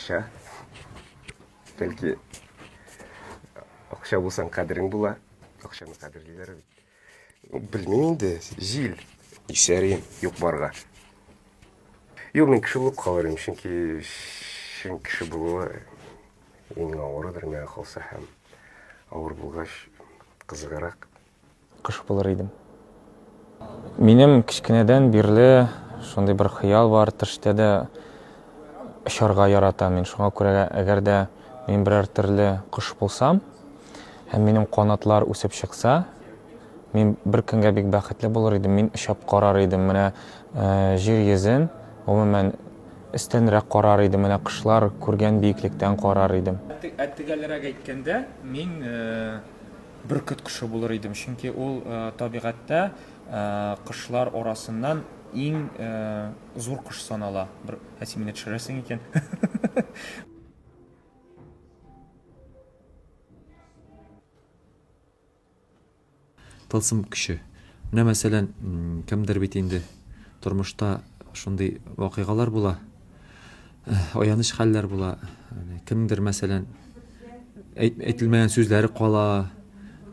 Акча. Бәлки акча булсаң кадерең була. Акчаны кадерлиләр бит. Белмим инде, җил исәрим юк барга. Юк, мин кеше булып калыр идем, чөнки чын кеше булуы иң авырыдыр миңа калса һәм авыр булгач кызыгырак. Кош булыр идем. Минем кечкенәдән бирле шундый бер хыял бар, төштә дә очарга яратам мин. Шуңа күрә әгәр дә мин берәр төрле кош булсам һәм минем канатлар үсеп чыкса, мин бер көнгә бик бәхетле булыр идем. Мин очып карар идем менә э, җир йөзен, гомумән өстәнрәк карар идем, менә кошлар күргән биеклектән карар идем. Ә төгәлрәк әйткәндә, мин э, Бөркет кошы булыр идем, чөнки ул табигатьтә кошлар арасыннан иң зур кош санала. Бер әти мине төшерәсең икән. Тылсым көче. Менә мәсәлән, кемдер бит инде тормышта шундый вакыйгалар була. Эх, аяныч хәлләр була. Кемдер, мәсәлән, әйт, әйтелмәгән сүзләре кала.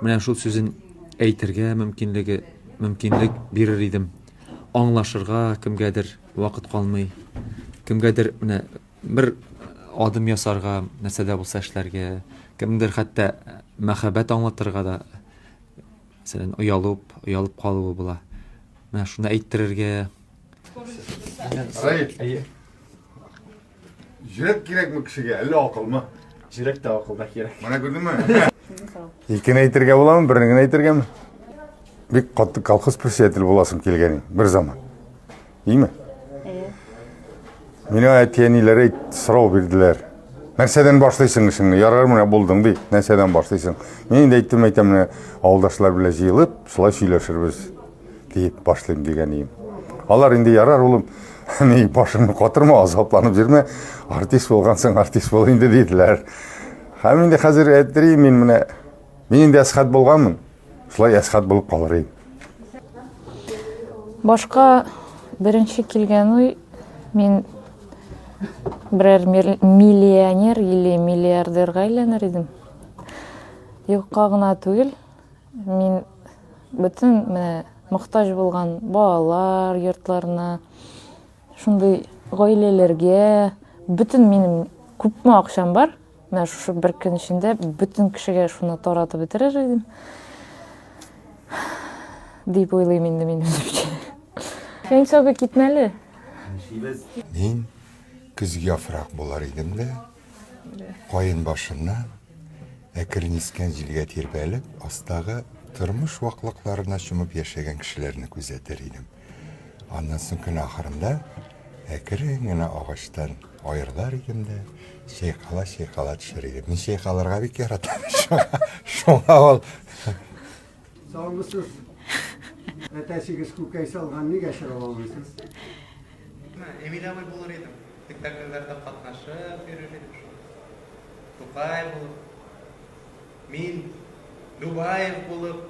Менә шул сүзен әйтергә мөмкинлеге, мөмкинлек бирер идем. Аңлашырга кемгәдер вакыт калмый. Кемгәдер менә бер адым ясарга, нәрсә дә булса эшләргә, кемдер хәтта мәхәббәт аңлатырга да, мәсәлән, оялып, оялып калуы була. Менә шуны әйттерергә, Раиф. Әйе. Жүрәк кирәкме кешегә, әллә акылмы? Жүрәк тә акыл да кирәк. Менә күрдеңме? Икене әйтергә буламы, берне генә әйтергәме? Бик катты колхоз председатель буласың килгәнең бер заман. Име? Әйе. Мина әтиәниләре сорау бирделәр. Нәрсәдән башлыйсың эшеңне? Ярар менә булдың ди. Нәрсәдән башлыйсың? Мин инде әйттем, әйтәм менә авылдашлар белән җыелып, шулай сөйләшербез. диеп башлыйм дигән ием. Алар инде ярар улым, ни башыңны катырма, азапланып йөрмә, артист булгансың, артист бул инде диделәр. Һәм инде хәзер әйтерим мин менә мин инде әсхат булганмын. Шулай әсхат булып калыр идем. Башка беренче килгән уй мин берәр миллионер или миллиардерга әйләнер идем. Юкка гына түгел, Мин бөтен менә мохтаҗ булган балалар йортларына, шундый гаиләләргә бөтен минем күпме акчам бар, менә шушы бер көн эчендә бөтен кешегә шуны таратып бетерер идем. Дип уйлыйм инде мин үземчә. Син соби китмәле. Мин көзге яфрак булар идем дә. Каен башыннан, әкрен искән җилгә тирбәлеп, астагы тормыш ваклыкларына чумып яшәгән кешеләрне күзәтер идем. Аннан соң көн ахырында әкрен генә агачтан аерылар идем дә, чайкала чайкала төшер идем. Мин чайкалырга бик яратам. Шуңа ул Саулысыз. Әтәсегез күкәй салган, нигә чыгып алмыйсыз? Эмиль абый булыр идем. Спектакльләрдә катнашып йөрер идем шул. Тукай булып. Мин Любаев булып.